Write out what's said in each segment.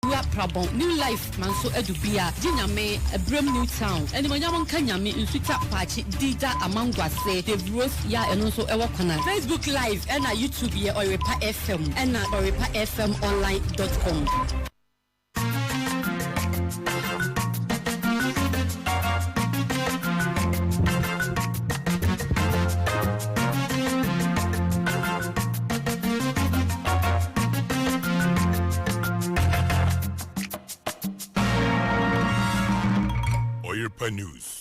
Wura prabɔn new life manso adu bia gye nyame ɛbrɛm new town animonyam nka nyame nsutwa paakye di da amangwase dave rose ya ɛno nso ɛwɔ kwana. Facebook live ɛna YouTube yɛ ɔyerepa fm ɛna ɔyerepa fm online dot com. Oyirpa News.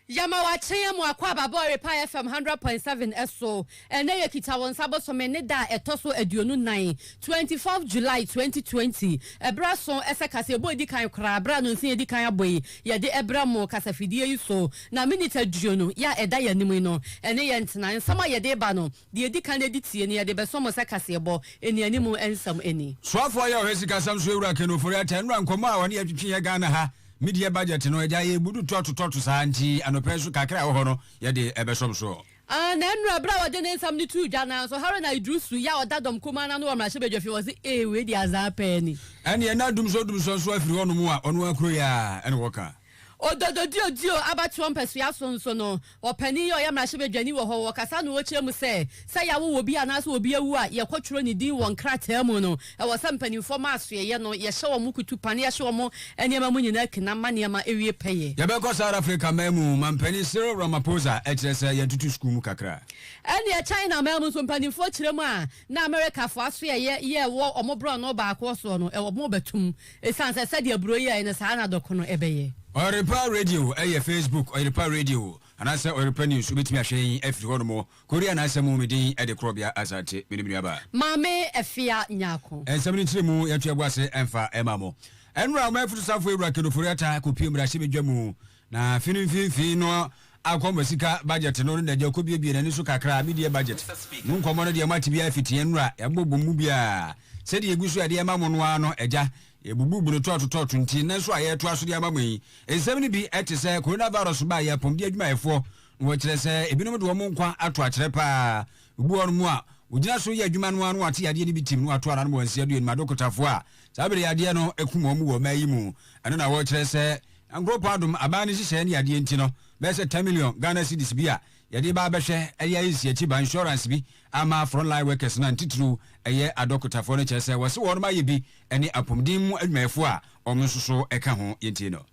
Yɛma wo akyɛn mu akɔ aba bɔ Oyirpa FM hundred point seven so. Ɛnnɛ yɛ Kita Wo Nsa bosome ne da a ɛtɔ so aduonu nan, twenty fourth July twenty twenty. Ɛberɛ aso sɛ kaseɛbɔ a ɛdi kan koraa, berɛ a nonse yɛdi kan abɔ yi, yɛde brɛ mo kasafidie yi so. Na minute aduonu yi a ɛda yɛn anim yi no, ɛne yɛn ntena. Nsɛm a yɛde reba no, Deɛ ɛdi kan ɛdi tie no yɛde bɛsɔ mo sɛ kaseɛbɔ nnianim nsɛm ani. Soafoɔ yɛ ɔhɛ sikasɛm so awura Ken Ofori Atta nnura nkɔmmɔ a ɔne yɛ twetwe yɛ Ghana ha media budget no agya yɛ budu tɔto tɔto saa nti anɔpa yi nso kakra a ɛwɔ hɔ no yɛde ɛbɛsɔ mo soɔ. Aah na nnura berɛ a ɔde ne nsɛm no too dwa no ara nso Haruna Iddrisu yɛ a ɔda dɔm kumaa no ano wɔ mmarahyɛbadwafie wɔse ee wei deɛ azaa paa ni. Ɛneɛ na dumsɔ dumsɔ nso afiri hɔnom a ɔno ara kuro yi ara na wɔka. Odododio-dio abatoɔ mpasua so nso no, ɔpanin yi a ɔyɛ mmarahyɛbadwani wɔ hɔ, ɔkasa na ɔkyerɛ mu sɛ, sɛ yɛawo obi anaasɛ obi awu a, yɛkɔtwerɛ ne din wɔ nkrataa mu no, ɛwɔ sɛ mpanimfoɔ ma asoɛeɛ no, yɛhyɛ wɔn kutupa na yɛhye wɔn nneɛma mu nyinaa kina ma nneɛma wie pɛyɛ. Yɛbɛkɔ South Africa man mu, Mampanin Cyril Ramaphosa kyerɛ sɛ yɛatutu sukuu mu kakra. Ɛnneɛ China man mu nso, mpanimfoɔ kyerɛ mu a na Amerikafoɔ asoɛeɛ yɛ wɔ wɔn borɔno baakoɔ soɔ no, wɔbɛto mu. Esiane sɛ sɛdeɛ aburoo yi yɛeɛ no, saa ara na dɔko no bɛyɛ. Ɔyɔrepa Radio yɛ Facebook Ɔyɔrepa Radio anaasɛ Ɔyɔrepa News. Wobɛtumi ahwɛ yɛn afiri hɔnom. Korea na asɛm mu, me din de Korɔbea Asante. Mene me nuaba. Maame Afia Nyarko. Nsɛm no nkyerɛmu, yɛto yɛn bo ase mfa ma mo. Ɛnnora, ɔman afutusafo Awura Kenneth Ofori-Atta kɔpue mmarahyɛbadwa mu Na afe no mfinimfini no akɔmɔ sika budget no na deɛ kɔbiebie n'ani so kakra me deɛ budget mu nkɔmɔ no deɛ mo ate biara fiti yɛn nnura yɛabɔ bom mu biara sɛdeɛ ɛgu so ɛde ɛma mo no ara no agya yɛbubu bunu tɔɔto tɔɔto nti nnɛ nso a yɛretoa so de ama mo yi nsɛm no bi te sɛ corona virus baa yɛ apɔmuden adwumayɛfoɔ na wɔkyerɛ sɛ ebinom de wɔn nkwa ato akyerɛ paa obi wɔ nom a wɔgyina so yɛ adwuma no ara no ate yadeɛ no bi tim no ato ara no wɔn nsia duo nim adokotafoɔ a saa bere yadeɛ no ɛkum wɔn wɔ ɔman yi mu ɛno na wɔkyerɛ sɛ Na nkuropɔn adom aban no nhyehyɛɛ ne adeɛ nti no, bɛyɛ sɛ ten million Ghana cedis bi a yɛde ba abɛhwɛ ɛyɛ ayɛ nsi akyi ba insurance bi ama front line workers no a ntitiriw ɛyɛ adɔkotafoɔ no kyerɛ sɛ wɔse wɔnom ayɛ bi ɛne apomuden mu adwumayɛfoɔ a wɔn nso so ɛka ho yɛntie no.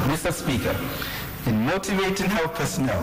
Mister Speaker, in motivating health personnel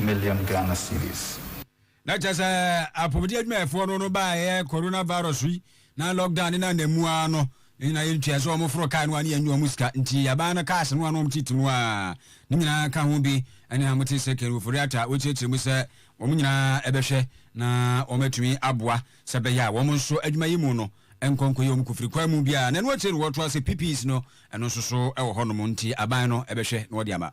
million Ghana cedis. Na kyerɛ sɛ apɔmuden adwumayɛfoɔ no no baa ɛyɛ corona virus yi na lock down ne nana mu ara no ne nyinaa yɛ ntua sɛ wɔn foro car no a ne yɛ nyɛ wɔn sika nti aban no cars no a na wɔn titi no a ne nyinaa ka ho bi ɛne a mote second Ofori-Atta a wɔkyerɛkyerɛ mu sɛ wɔn nyinaa ɛbɛhwɛ na wɔn atumi aboa sɛ bɛyɛ a wɔn nso adwuma yi mu no nkɔ nkɔyɛ wɔn kofiri kwan mu biara na ɛno akyire no wɔtoa sɛ PPEs no ɛno nso so ɛwɔ hɔ nom nti aban no ɛbɛhwɛ na wɔde ama.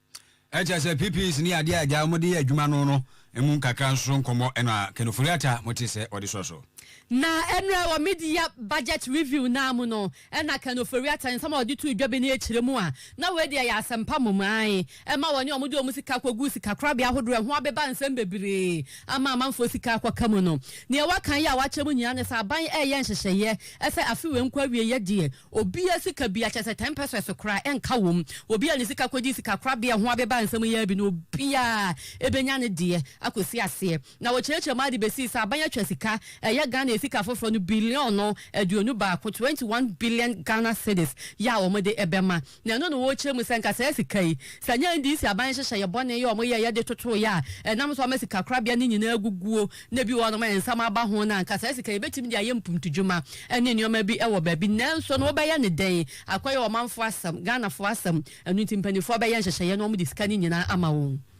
Ɛkyerɛ sɛ PPEs ne adeɛ a agya wɔn de yɛ adwuma no no mu nkakra nso so nkɔmmɔ na Ken Ofori-Atta mo te sɛ ɔde sɔ so. Na ɛnɛ wɔ mid-year budget review no ara mu no na Ken Ofori-Atta nsɛm a ɔde too dwa bi no ɛkyerɛ mu a na wei deɛ ɛyɛ asɛmpa mmom ae ɛma wɔne wɔn de wɔn sika kɔ gu sikakorabea ahodoɔ a ɛho abeba nsɛm bebree ama amanfoɔ sika akɔka mu no. Deɛ waka yi a wakyerɛ mu nyinaa ne sɛ aban ɛreyɛ nhyehyɛeɛ sɛ afe wei nkɔ awieɛ deɛ Obi a sika bia kyɛ sɛ ten pesos koraa ɛnka wom, obi a ne sika kɔgye sika korabea ho abeba nsɛm yi ara bi no obiara ɛbɛnya ne deɛ akɔsi aseɛ. Na wɔkyerɛkyerɛ mu ara de bɛsii sɛ aban atwa sika ɛyɛ Ghana sika foforɔ no billion no aduonu baako, 21 billion Ghana cedis, yɛ a wɔde ɛbɛma. Na ɛno na wɔrekyerɛ mu sɛ anka saa sika yi, sɛ ɛnyɛ NDC aban nhyehyɛeɛ bɔne yi a wɔyɛeɛ de totoeɛ a ɛnam so ama sikakorabea no nyinaa aguguo, na bi wɔ hɔnom a nsɛm aba ho no a, anka saa sika yi yɛbɛtumi de ayɛ mpuntudwuma ne nneɛma bi wɔ baabi. Nanso no, wobɛyɛ no dɛn? Akɔyɛ ɔmanfoɔ asɛm, Ghanafoɔ asɛm. Ɛno nti mpanimfoɔ bɛyɛ nhyehyɛeɛ na wɔde sika no nyinaa ama wɔn.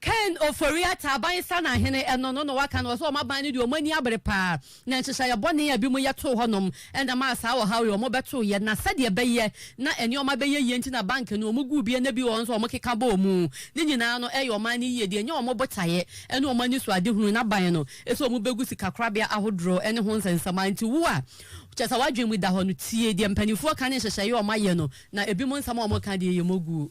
Ken Ofori-Atta, Abansan ahene, ɛno no na waka no, ɔse wɔn aban no deɛ wɔn ani abere paa, na nhyehyɛeɛ bɔne a binom yɛ too hɔnom na ɛmaa saa ɔhaw yi, wɔbɛtoeɛ, na sɛdeɛ ɛbɛyɛ na nneɛma bɛyɛ yie nti na bank no wɔn guu bi na bi wɔ hɔ nso a wɔn keka bɔɔ mu, ne nyinaa no ɛyɛ ɔman no yie deɛ, ɛnyɛ wɔn botaeɛ ne wɔn anisoadehunu, na aban no sɛ wɔn bɛgu sikakorabea ahodoɔ ne ho nsɛnsɛm a, nti wo a kyerɛ sɛ w'adwene mu da hɔ no tie deɛ mpaninfoɔ ka ne nhyehyɛeɛ a wɔn ayɛ no, na binom nsɛm a wɔn ka deɛ yɛ moguo.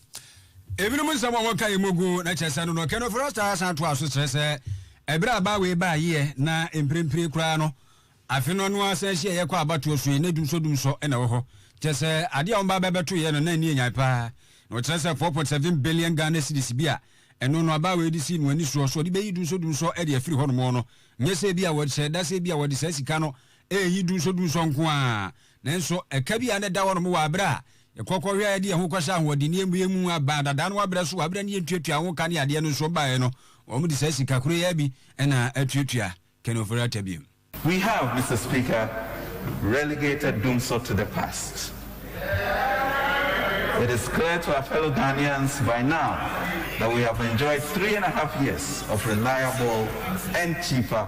Ebinom nsɛm a wɔka yi mu gu na kyerɛ sɛ Nonɔkɛ no Frostar san toa so kyerɛ sɛ ɛberɛ a baa wei baa yeɛ na mprempren koraa no afe no ano ara san hyiaeɛ kɔɔ abatoɔ so yi na dumsɔdumsɔ na ɛwɔ hɔ kyerɛ sɛ adeɛ a wɔbaa bɛbɛtoeɛ no na ani yɛ nyan paa na wɔkyerɛ sɛ four point seven billion Ghana cedis bi a ɛno no abaa wei de sii no ani soɔ sɛ ɔde bɛyi dumsɔdumsɔ de afiri hɔnom no nyɛ sɛ ebi a wɔhyɛ da sɛ ebi a wɔde saa sika no reyi dumsɔdumsɔ nko ara. Nanso, ɛka bi a na ɛda hɔnom wɔ bere a yɛkɔ kɔhwɛɛ de yɛn ho kɔhyɛɛ ahoɔdenne amue mu baa dada no abrɛ so wɔ bere a na yentuatua ho ka ne adeɛ no nso baeɛ no, wɔde saa sika koro yi ara bi na atuatua Ken Ofori-Atta bio. We have, Mister Speaker, relegated Dumsor to the past. It is clear to our fellow Ghanaians by now that we have enjoyed three and a half years of reliable and cheaper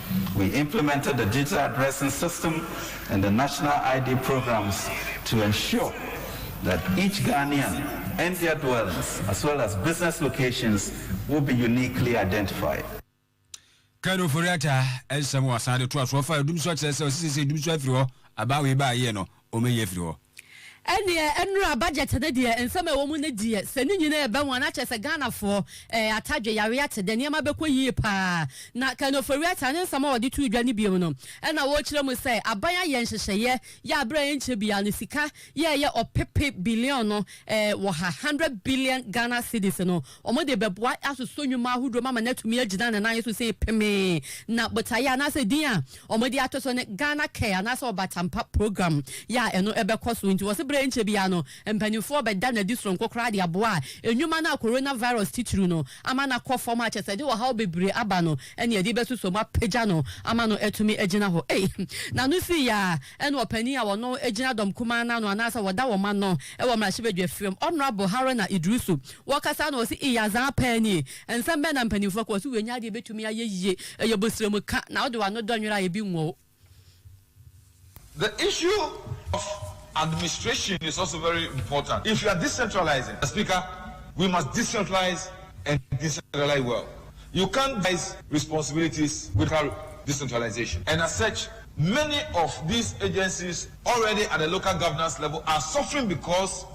We implemented the digital addressing system and the national ID programs to ensure that each Ghanaian and their dwellings as well as business locations will be uniquely identified. Ken Ofori-Atta nsɛm wɔsan de toa so. Ɔfaa dum so kyerɛ sɛ ɔsɛ sɛ sɛ dum so afiri hɔ, aba a wɔyɛ baa yie no, wɔbɛyi afiri hɔ. Ɛneɛ nnura budget no deɛ nsɛm a ɛwɔ mu no deɛ sɛ ne nyinaa ɛba mu a na kyerɛ sɛ Ghanafoɔ ɛɛ atadwe yareɛ ate dɛ nneɛma bɛkɔ yie paa na Ken Ofori-Atta ne nsɛm a ɔde too dwa no biom no ɛna ɔrekyerɛ mu sɛ aban ayɛ nhyehyɛeɛ yɛ a berɛ a ɛnkyɛ biara no sika yɛɛyɛ ɔpepe billion no ɛɛ wɔ ha hundred billion Ghana cedis no Wɔde bɛboa asosɔ nnwuma ahodoɔ mu ama no atumi agyina ne nan so sei pemee. Na botaeɛ anaasɛ din a wɔde ato so ne Ghana Care anaasɛ Ɔbatampa Program yɛ a ɛno bɛkɔ so. Nti wɔse berɛ a ɛnkyɛ biara no mpaninfoɔ bɛda no adi soronko koraa de aboa nnwuma no a Corona Virus titiriw no ama no akɔ fam a kyerɛ sɛ ɛde ɔhaw bebree aba no ne ɛde bɛsosɔ mu apagya no ama no atumi agyina hɔ. Ei! N'ano si yɛ a ɛne ɔpanin a ɔno gyina dɔm kumaa no ano anaasɛ ɔda wɔn ano wɔ Mmarahyɛbadwafie hɔ, Honourable Haruna Iddrisu Wɔkasa na wɔse Ii adzaa paa nie. Nsɛm bɛn na mpanyimfo ka? Wɔse W'enyi adeɛ betumi ayɛ yie. Ɛyɛ bosrɛmu ka, na wode w'ano dɔ nwera a ebi nwɔ wo. The issue of administration is also very important. If you are decentralizing, as Speaker, we must decentralize and decentralize well. You can't divide responsibilities without decentralization. And as such, many of these agencies already at the local governance level are suffering because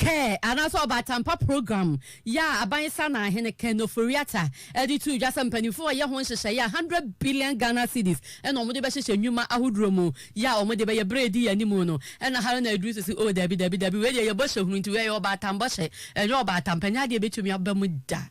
Care anaasɛ ɔbaatampa program yɛ a aban Saanaahene Ken Ofori-Atta de too dwa sɛ mpaninfoɔ reyɛ ho nhyehyɛeɛ a hundred billion Ghana cedis na wɔde bɛhyehyɛ nnwuma ahodoɔ mu yɛ a wɔde bɛyɛ berɛ a ɛdi yɛn anim no ɛna ha na aduru sisi oh dabi dabi dabi wei deɛ yɛ bɔhyɛ hunu nti wei ɛyɛ ɔbaatan bɔhyɛ ɛnyɛ ɔbaatampa ɛnyɛ adeɛ ɛbɛtumi aba mu da.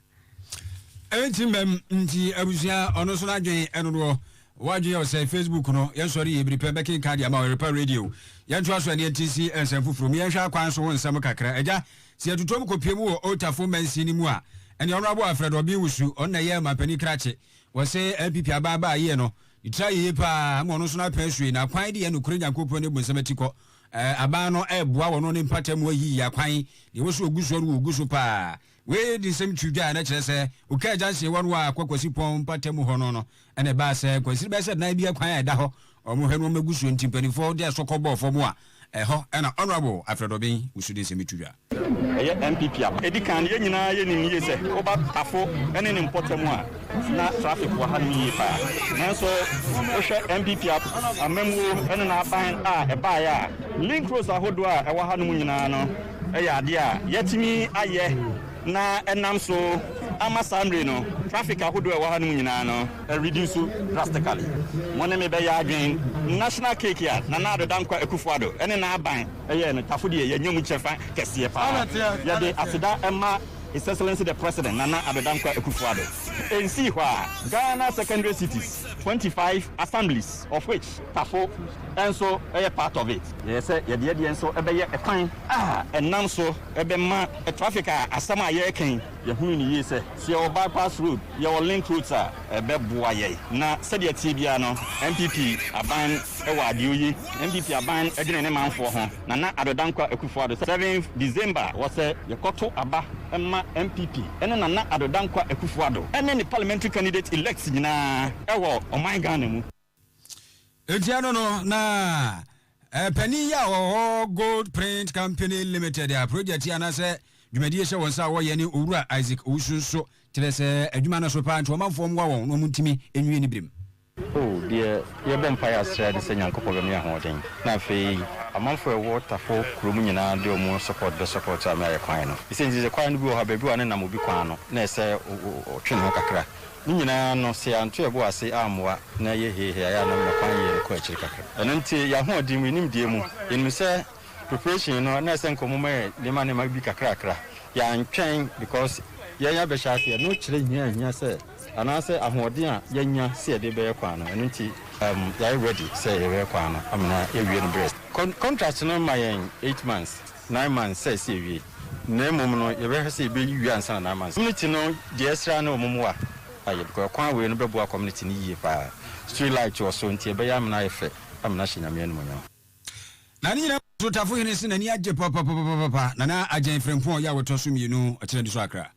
Enti mbɛm nti abusua ɔno nso n'adwen ɛnodoɔ wadwen yɛ ɔsɛe Facebook no yɛn sɔre yɛ ebiripɛ bɛkenkan deɛ ama ɔyɛrepa radio yɛn to aso ɛneɛ nti si nsɛm foforo mu yɛn hwɛ akwan so ho nsɛm kakra ɛgya si ɛtutuom kopie mu wɔ otafo mansin no mu a ɛneɛ ɔno abo afrɛ do ɔbin wusu ɔno na yɛ mampanin krakye wɔse NPP aba aba ayie no ne tira yeye paa ama ɔno nso n'apɛn asue na akwan de yɛ nokore nyankopɔn ne bu nsɛm ati kɔ aban no ɛboa wɔn ne mpata mu ayi akwan deɛ wɔso ogu so ɔno ogu so paa Wei de nsɛm too dwa a na ɛkyerɛ sɛ Oka agya nhyewɔ no a ɛkɔ Kwasi Pɔn mpatamu hɔ no no na ɛbaa sɛ nkwansini bɛyɛ sɛ nan bi akwan a ɛda hɔ a wɔhwɛ nnoɔma gu soɔ nti mpaninfoɔ de asɔ kɔ bɔɔ fam a ɛhɔ na Honourable Alfred Obeng wusu de nsɛm yi to dwa. Ɛyɛ NPP a ɛdi kan no. Yɛn nyinaa yɛnim yie sɛ woba Tafo ne ne mpɔtam a na traffic wɔ hanom yie paa nanso wohwɛ NPP amammuo ne n'aban a ɛbaeɛ a link roads ahodoɔ a ɛwɔ hanom nyinaa no yɛ adeɛ a yɛatumi ayɛ na ɛnam so ama saa mmere no traffic ahodoɔ a ɛwɔ hanom nyinaa no reduce drastically. Mo ne me bɛyɛ adwene, National Cake a Nana Addo Dankwa Akufo-Addo ne n'aban yɛɛ no Tafo deɛ yɛanya mu kyɛfa kɛseɛ pa ara. Yɛde aseda ma His Excellency the President Nana Addo Dankwa Akufo-Addo. Ɛnsii hɔ a Ghana Secondary Cities, twenty five assemblies of which Tafo, nso yɛ part of it. Yɛyɛ sɛ yɛde yɛn deɛ nso bɛyɛ kwan a ɛnam so bɛma traffic a asɛm a yɛreka yi, yɛhunu no yie sɛ, sɛ yɛwɔ bypass road, yɛwɔ link roads a, ɛbɛboa yɛn. Na sɛdeɛ ɛteɛ biara no, NPP aban wɔ adeɛ oye. NPP aban dwene ne manfoɔ ho. Nana Addo Dankwa Akufo Addo Seventh December wɔ sɛ yɛkɔto aba mma NPP ne Nana Addo Dankwa Akufo Addo ne ne parliamentary candidate elects nyinaa wɔ ɔman Ghana mu. Ekyir no no na panyin yi a ɔwɔ Gold Print Company Limited a project yi anaasɛ dwumadie hyɛ wɔn nsa a wɔyɛ ne Owura Isaac Owusu nso kyerɛ sɛ adwuma no so paa nti ɔmanfoɔ mmoa wɔn na wɔn ntumi nwie ne berem. O, deɛ yɛbɔ mpaeɛ ara srɛ ne sɛ Nyankopɔn bɛma yɛn ahoɔden na afei amanfoɔ a ɛwɔ Tafo kuro mu nyinaa de wɔn support bɛ support a me ayɛ kwan no. Ɛsɛ nti sɛ kwan no bi wɔ hɔ a baabi wɔ a ne nam obi kwan no na ɛsɛ ɔtwe ne ho kakra Ne nyinaa no, sɛ yɛanto yɛn bo ase ammoa na ɛyɛ heehe a, ɛyɛ a na mema kwan yɛ no kɔ akyiri kakra. Ɛno nti, yɛn ahoɔden mu, yɛn nimdeɛ mu, yɛnim sɛ preparation no, na ɛsɛ nka wɔma yɛn nneɛma nneɛma bi kakrakra. Yɛantwɛn because yɛn abɛhyɛ ase yɛ. No kyerɛ hia a ehia sɛ anaasɛ ahoɔden a yɛanya sɛ yɛde bɛyɛ kwan no. Ɛno nti, um, yɛayɛ ready sɛ yɛbɛyɛ kwan no amena yɛawie no berɛ. Con, contract no ma yɛn eight months. nine months sɛ ɛsɛ yɛwie, na mmom no yɛbɛhwɛ sɛ yɛbɛyi wie ansa na nine months. Community no deɛ ɛsrɛ ara ne wɔn mmoa ayɛ because ɛkwan wei no bɛboa community no yie pa ara. Street light wɔ so nti ɛbɛyɛ amena ayɛ fɛ, amena ahyɛ Nyame animuonyam. Na ne nyinaa mu no Otafohene se n'ani agye papapapapapa na na Agyan Frimpong ɔyɛ awotɔ so mmienu ɔkyena di so akra.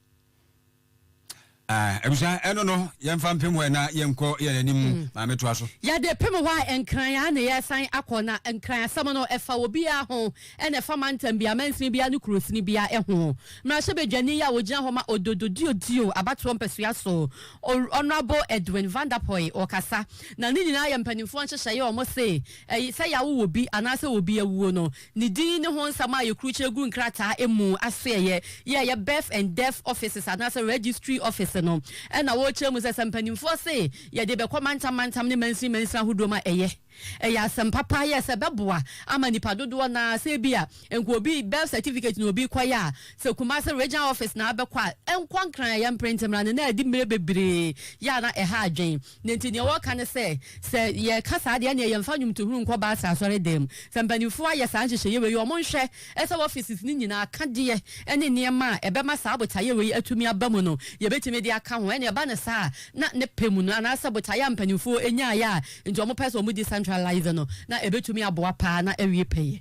Ah, abusua, ɛno no, yɛmfa mpem hɔ na yɛnkɔ yɛn anim. Mm. Maame, toa so. Yɛde pem hɔ a, Nkran ara na yɛresan akɔ, na Nkran asɛm no, ɛfa obiara ho, ɛna ɛfa mantam biara, mansini biara, ne kurosini biara ho. Mmarahyɛbadwani a ogyina hɔ ma Ododo Diodio abatoɔ mpasua so, Honourable Edwin Van Der Poy, ɔrekasa. Na ne nyinaa yɛ mpanimfoɔ nhyehyɛeɛ a wɔse, ɛy, sɛ yɛawo obi anaasɛ obi awuo no, Ne din ne ho nsɛm a yɛkurukyerɛ gu nkrataa mu asoɛeɛ yɛ yɛ Birth and Death Offices anaasɛ Registry Office no na wɔkyerɛ mu sɛ sɛ mpanimfoɔ se yɛde bɛkɔ mantam mantam ne mansini mansini ahodoɔ mu a ɛyɛ ɛyɛ asɛm papa yɛ sɛ ɛbɛboa ama nnipa dodoɔ no ara sɛ ebi a nka obi birth certificate na obi kɔyɛ a sɛ Kumasi Regional Office na abɛkɔ a ɛnkɔ nkran a yɛmpere nti mmara no na ɛde mmerɛ bebree yɛ a na ɛha adwene. Na enti deɛ wɔka ne sɛ, sɛ yɛka saa deɛ ɛneɛ yɛmfa nnwomtohunu nkɔ Baasa Asɔredam. Sɛ mpanimfoɔ ayɛ saa nhyehyɛeɛ wei yi, wɔnhwɛ sɛ offices no nyinaa akadeɛ ne nneɛma a ɛbɛma saa botaeɛ wei atumi aba mu no, yɛbɛtumi de aka ho. Ɛneɛ ɛba no saa a, na ne pɛ mu no, anaasɛ botaeɛ a mpanimfoɔ nyaeɛ a nti wɔpɛ sɛ wɔdi centralize no, na ɛbɛtumi aboa paa na awie pɛyɛ.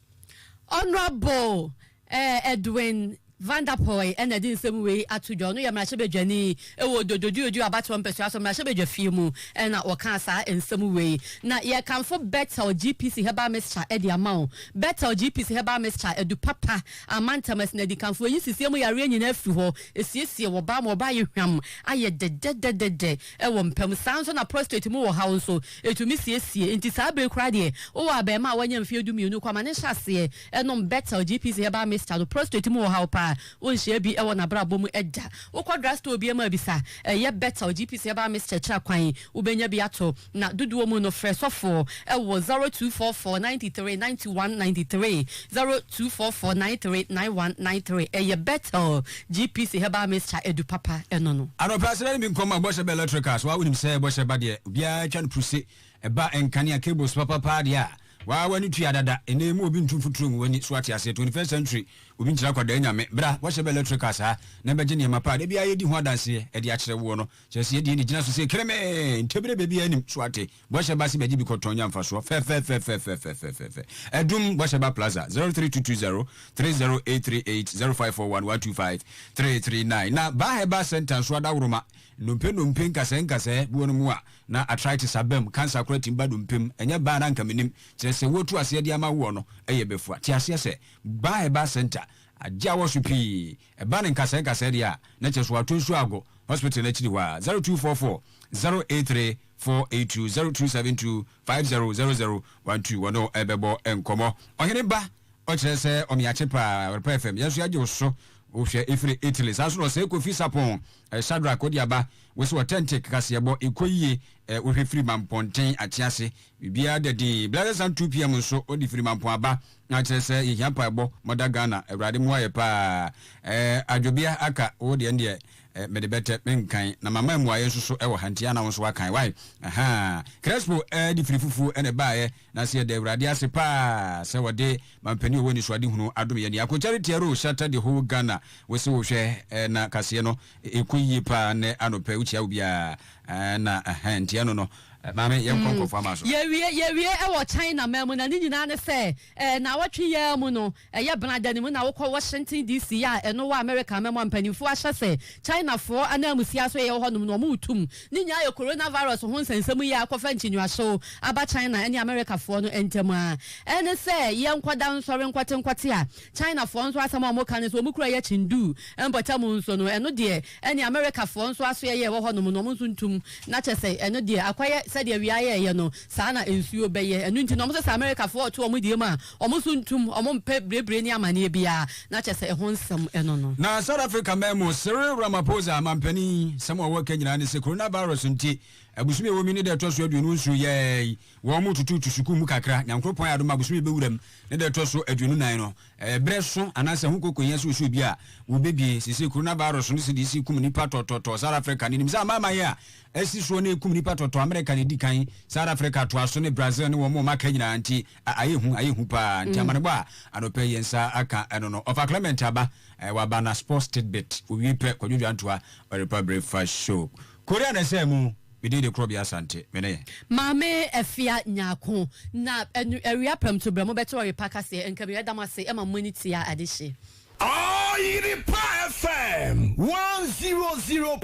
Honourable Edwin Van Der Poy na ɛde nsɛm wei ato dwa. Ɔno yɛ mmarahyɛbadwani wɔ Dododuodu abatoɔ mpɛsoa so, mmarahyɛbadwa fie mu na ɔkaa saa nsɛm wei. Na yɛkamfo Bethel GPC Herbal Mixture de ama wo. Bethel GPC Herbal Mixture, adu papa, amantam asinadikanfoɔ yi nsisie mu yareɛ nyinaa firi hɔ, ɛsiesie ɔbaa ma ɔbaa ayɛ hwam, ayɛ dɛdɛdɛdɛdɛ. wɔ mpa mu. Saa ara nso na prostate mu ɔhaw nso, ɛtumi siesie. Enti saa bere yi koraa deɛ, wowɔ abarimaa a wanya mfeɛ dumienu kɔ, ma no nhyɛ aseɛ nnom Betel GPC Herbal Mixture no. Prostate mu ɔhaw paa, wonhyiaa bi wɔ n'abrabɔ mu da. Wokɔ drugstore biara mu a, bisa, Ɛyɛ Betel GPC Herbal Mixture kyerɛ kwan? Wobɛnya bi ato. Na dodoɔ mu no, frɛ sɔfoɔ wɔ zero two four four ninety three ninety one ninety three, zero two four four nine three nine one nine three. Ɛyɛ Betel GPC herbal mixture adu papa ɛno no. Anɔpa srɛ no bi nkɔ ma bɔhyɛ ba electricals waa wonim sɛ bɔhyɛ ba deɛ obiara twa no pruse ɛba nkanea cables papa paa deɛ a waa wani tua dada ɛnɛ yi mu obi ntu mfuturo ngu wani so wate aseɛ 21st century obi nkyerɛ akwadaa nyame bra bɔhyɛ ba electricals ha na bɛgye nneɛma paa da biara yɛdi ho adanseɛ ɛde akyerɛ woɔ no kyerɛ sɛ yɛdeɛ ne gyina so sɛ keremee ntɛbire baabiara nim so wate Bɔhyɛ Ba Sibagyi Bi Kɔtɔn Nya Mfasoɔ Fɛfɛɛfɛfɛfɛfɛfɛfɛfɛ Adum Bɔhyɛ Ba Plaza zero three two two zero three zero eight three eight zero five four one one two five three three nine Na Ba Herbal Centre nso Adaworoma Nnompe Nnompe Nkasɛɛ Nkasɛɛ Buo no mu a na Arthritis aba mu Cancer koraa tumi ba Nnompe mu Ɛnyɛ Ba a na anka menim Kyerɛ sɛ wotu aseɛ de ama woɔ no yɛ bɛfua Te aseɛ sɛ Ba Herbal Centre agye awɔ so pii Ɛba no nkasɛɛ nkasɛɛ deɛ a, na kyerɛ sɛ wɔato nsuo ago hospital no akyiri hɔ ara. Zero two four four zero eight three four eight two zero two seven two five zero zero zero one two wɔne wo bɛbɔ nkɔmmɔ. Ɔhene ba ɔkyerɛ sɛ ɔmeakye paa Awerpa FM yɛn nso yɛagye wo so wohwɛ ɛfiri Italy saa nso na ɔsɛe Kofi Sapon Shadrack wode aba wo se authentic kaseɛbɔ ɛkɔ yie eh, wohwɛ firi Mampɔnten Akyease biribiara da din Blessed Sun 2pm nso wode firi Mampɔn aba Na kyerɛ sɛ yɛhia mpaebɔ ma da Ghana awurade mmoa yɛ paa ɛɛ adwobea aka wo deɛ ndeɛ ɛɛ mede bɛtɛ me nkan na mama mmuaeɛ nso so ɛwɔ ha nti ana wo nso wakan wai ahaa Crespo ɛɛ de firi fufuo ɛna ɛbaeɛ na sɛ yɛda awurade ase paa sɛ wɔde mampanin ɔwɔ anisoadehunu adom yɛn ni Ako Charity Arrow Shatter the whole Ghana wo se wo hwɛ ɛɛ na kaseɛ no Ɛkɔ yie paa nnɛ anɔpɛ wokyia obi a eh, na ɛhɛn nti ɛno no eh, maame yɛnkɔ mm. nkurɔfoɔ ama so. Yɛwie yɛwie ɛwɔ China man mu na ne nyinaa ne sɛ eh, na awɔtwe yɛa mu no ɛyɛ benada ne mu na wokɔ Washington DC a ɛno wɔ America man mu a mpanimfoɔ ahyɛ sɛ Chinafoɔ ananmusia so yɛwɔ hɔnom no wɔretum ne nyinaa yɛ coronavirus ho nsɛnsɛm yi a akɔfa nkyinwuahyew aba China ne Americafoɔ no ntam a ɛne sɛ yɛnkɔda nsɔre nkɔte nkɔte a Chinafoɔ nso asɛm a wɔka ne sɛ wɔn kuro yɛ Chengdu mpɔtam nso no ɛno deɛ ɛne Amerikafoɔ nso asoɛyɛ ɛwɔ hɔnom no wɔn nso ntum na kyɛsɛ ɛno deɛ akɔyɛ sɛdeɛ wia yɛɛyɛ no saa na nsuo bɛyɛ ɛno nti na wɔn nso sɛ Amerikafoɔ ɔto wɔn deɛ mu a wɔn nso ntum wɔn mpɛ birebire ne amaneɛ biara na kyɛsɛ ɛho nsɛm ɛno no. Na South Africa man mu Cyril Ramaphosa mampanin sɛm a ɔwɔ ka nyinaa ne sɛ Coronavirus nti abosome a ɛwɔ mu yi ne da ɛtɔ so aduonu nsuo yɛɛe Wɔtututu sukuu mu kakra. Nyankoropɔn ayɛ adom ma bosome bɛwura mu ne da ɛtɔ so aduonu nan no. Ɛyɛ berɛ so anaasɛ ho kokohia sɛ osuo bi a wɔbɛbie. Seesei Coronavirus no CDC kum nnipa tɔtɔtɔ Sahara Africa no nim sɛ amanaman a asi soɔ no ɛrekum nnipa tɔtɔ America na ɛdi kan, Sahara Africa toa so ne Brazil ne wɔn a wɔaka nyinaa nti a ayɛ hu, ayɛ hu pa ara nti amanebɔ a anɔpa yi yɛn nsa aka ɛno no ɔfa Clement Aba, waba na Sports Tidbit, owie pɛ Kwadwo Dwantoa ɔrepa breakfast show. Korea na ɛsɛɛ mu. Me din de Korɔbea Asante. Me ne. Maame Afia Nyarko. Na ɛno awia prɛmto berɛ mobɛto ɔyepa ka sɛ, Nka me yɛda mo ase ma mo ani tua ade hye. Ɔyerepa FM one zero zero point.